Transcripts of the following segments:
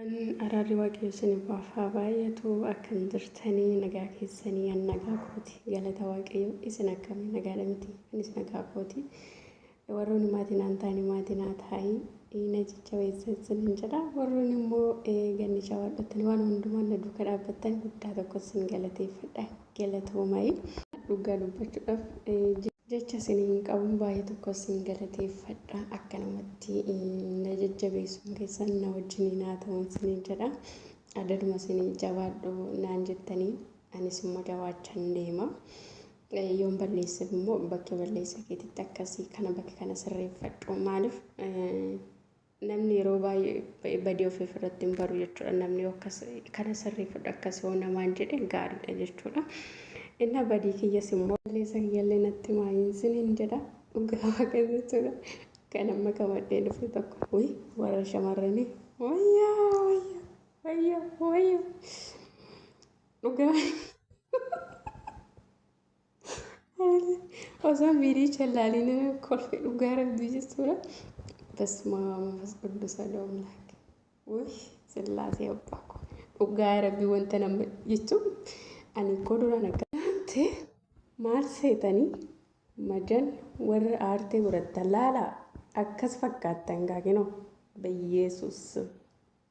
Nagaan araarri waaqayyo isiniif haa baay'atu akkam jirtanii nagaa keessanii an nagaa kooti galata waaqayyo isin akkami nagaadha miti anis nagaa kooti warroonni maatii naan taa'anii maatii naa taa'ii na jajjabeessa isin hin jedha warroonni immoo ganni jawaadhattan waan hundumaan na duuka dhaabbattan guddaa tokko isin galateeffadha galatoomayi dhugaa dubbachuudhaaf Jecha sin hin qabu baay'ee tokko sin galateeffadha akkanumatti na jajjabeessuun keessan na wajjiniin haa ta'u isiniin jedha adaduma isin jabaadhu naan jettanii anis immoo jabaachan deema yoon balleesseef immoo bakka balleessa keetitti akkasii kana bakka kana sirreeffadhu maaliif Namni yeroo baay'ee badii ofiif irratti hin baru jechuudha. Namni yoo akkas kana sirreeffadhu akkas yoo namaan jedhe gaariidha jechuudha. Innaa badii kiyyas immoo balleessa kiyyallee natti himaa hin sinin jedha dhugaa waaqa jechuudha. Kan amma qabadhee dhufe tokko wi warra shamarranii wayyaa wayyaa wayyaa wayyaa dhugaa. Osoo miiricha ilaalina kolfe dhugaa rabbi jechuudha. Basmaa manfas quddusa doomlaak. Wush sillaasee abbaa koo. Dhugaa rabbi wanta nama jechuun ani koo duraan akka ta'e maal seetanii madan warra aartee godhattan laalaa akkas fakkaattan gaaginoo. Bayyeesuus.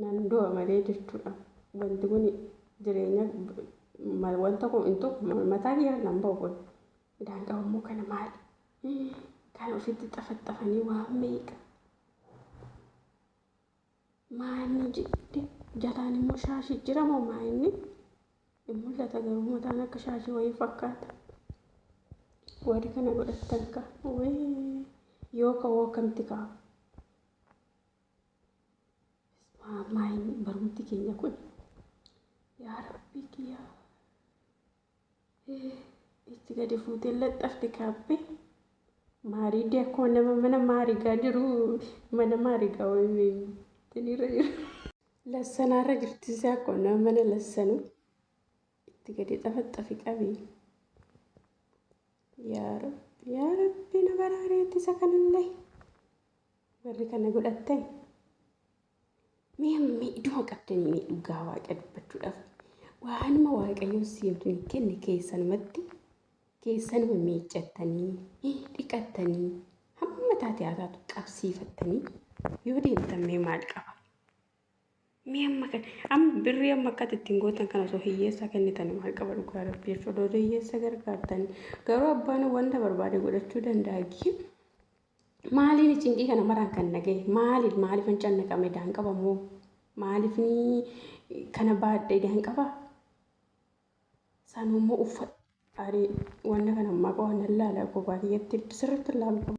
Nan du'a malee jechuudhaan wanti kun jireenya wanta kun hin tuqu mataa kiyyaa nan ba'u kun idaan qabu immoo kana maali kan ofitti xafaxafanii waan meeqa maanni jidde jalaan immoo shaashii jira moo maa inni hin mul'ata garuu mataan akka shaashii wayii fakkaata warri kana godhattan ka yoo ka'uu akkamti kaa'u Maayini barumti keenya kun yaa rabbii kiyyaa itti gadi fuutee laxxafte kaabbee maarii dee akkuma nama mana maarigaa jiru mana maarigaa wayiniirra jiru lassanaarra jirtise akkuma nama mana lassanu itti gadi xafaxxafi qabi yaa rabbi yaa rabbi na baraareetti isa kanallee. Warri kana godhattan mee amma idduma qabdanii mee dhugaa waaqa dubbachuudhaaf waanuma waaqayyoon siifni kenne keessanumatti keessanuma miiccattanii dhiqattanii hamma taate haa taatu qabsiifattanii yoo deemtan mee maal qaba? Mee amma kan amma birrii amma akkati ittiin gootan kana osoo hiyyeessaa kennitan maal qaba dhugaa rabbiif odoo hiyyeessa gargaartan garuu abbaan wanta barbaade godhachuu danda'a gii maaliin cinqii kana maraan kan naga'e maaliin maaliif hin cannaqame daan qaba moo maaliif ni kana baadhe daan qaba sanuu immoo uffa arii wanta kana ammaa qofa nan laala kophaa kiyyatti sirriitti laalu qaba.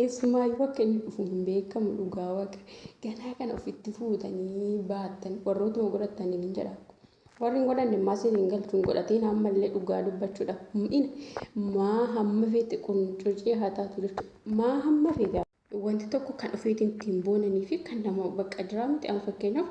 Eessumaayyuu akka inni dhufu hin beekamu dhugaa waqa. Ganaa kana ofitti fuutanii baattan warrootuma godhattan hin jedha. Warri hin godhanne immaa siin hin galchu hin godhatiin ammallee dhugaa dubbachuudha. Mu'ina maa hamma feete quncucii haa taatu jechuudha. Maa hamma feete wanti tokko kan ofiitiin ittiin boonanii fi kan nama bakka jiraa miti amma fakkeenyaaf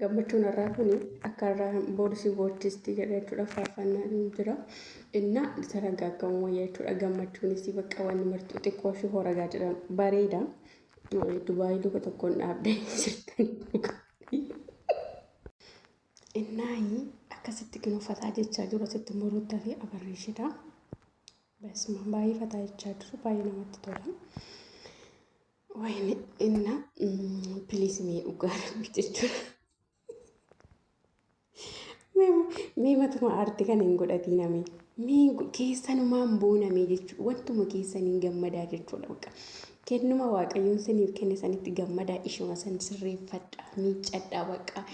Gammachuun har'aa kun akka har'aa boru si boochisti jedha jechuudha faarfannaan jira. Inna taragaaggamu wayya jechuudha gammachuunis bakka wanni martuu xiqqoo ishee horagaa jedhan bareeda. Dubaayii luka tokkoon dhaabdee jirtan dhugaa. Innaayi akkasitti kan uffataa jechaa jiru asitti immoo ruuttaa fi abarree isheedha. Basma baay'ee fataa jechaa jiru baay'ee namatti tola. Wayne inna please mee dhugaa rabbi jechuudha. Mee matuma aarti kan hin godhatiin amee. Mee keessanumaan boonamee jechuudha. Wantuma keessaniin gammadaa jechuudha bakka. Kennuma waaqayyoon saniif kenne sanitti gammadaa ishuma san sirreeffadhaa miiccadhaa bakka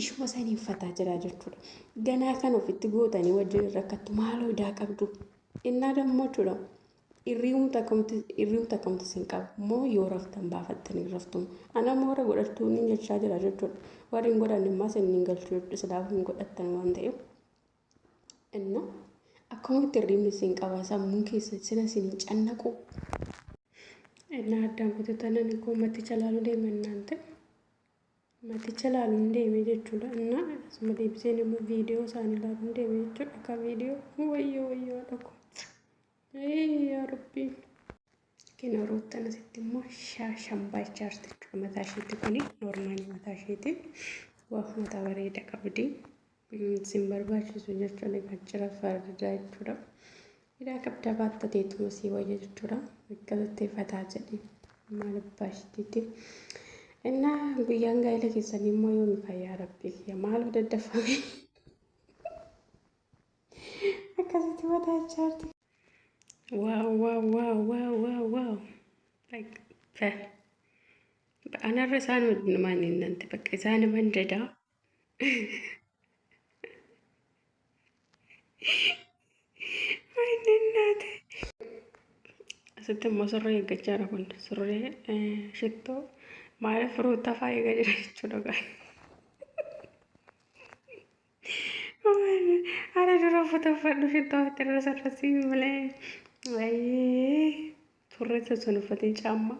ishuma saniin fataa jiraa jechuudha. Ganaa kan ofitti gootanii wajjin rakkattu maaloo idaa qabdu. Innaa dammoo jechuudha. Irrium takumti irrium takumti sin qabu mo yoo raftan baafattanii raftum ana mo warra godhattuu nin jechaa jira jechuudha warri hin godhanne immaa sin nin galchuu jechuudha silaaf hin godhattan waan ta'eef inna akkumatti irriimni sin qaba sammuun keessa sila sin hin cannaqu inna addaan kututanani koo matti jalaalu deeman naan ta'e Maticha laaluun deeme jechuudha. Innaa asuma deebiseen immoo viidiyoo isaanii laaluun deeme jechuudha. Akka viidiyoo wayyoo wayyoo dhoko. Yaa rabbii. Kina roottan asitti immoo shaashan baachaarti jechuudha. Mataa isheetti kuni noormaali mataa isheeti. Waa mataa bareeda qabdi. Sin barbaachisu jechuun egaa jira fardaa jechuudha. Hidhaa qabdaa baatta teetuma sii wayya jechuudha. Akkasitti fataa jedhi maal abbaa ishiitiiti. Innaa guyyaan gaa'ela keessanii immoo yoomi fayyaa rabbii kiyya maaloo daddafame. Akkasitti fataa ijaarti. Waaw waaw waaw waaw waaw waaw. Anarra isaan wajjinumaan hin nante bakka isaan himan dadaa. Asitti immoo surree eeggachaa jira kun surree shittoo maaliif firuuta fa'aa eegaa jira jechuudha gaa. Haala dura uffata uffadhu shittoo ofitti irra sarrasii malee. Ayyee surree sun uffatee caammaa.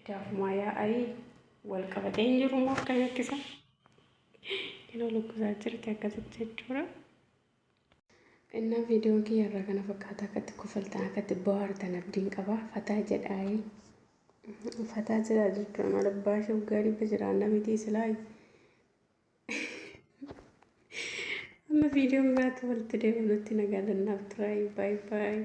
Idaafumaa yaa'ayii wal qabatee hin jiru immoo akka beeksisa. Yeroo lukkusaa jirti akkasitti jechuudha. Innaa viidiyoo kiyya irraa kana fakkaata akkatti kofaltan akkatti bohaartan abdiin qaba. Fataa jedhaayii. Fataa jedhaa jechuudha maal abbaa ishee waggaa dhibba jira anna mitii silaayi. Amma viidiyoo biraatti walitti deebinutti nagaa dannaaf turaa baay'ee baay'ee.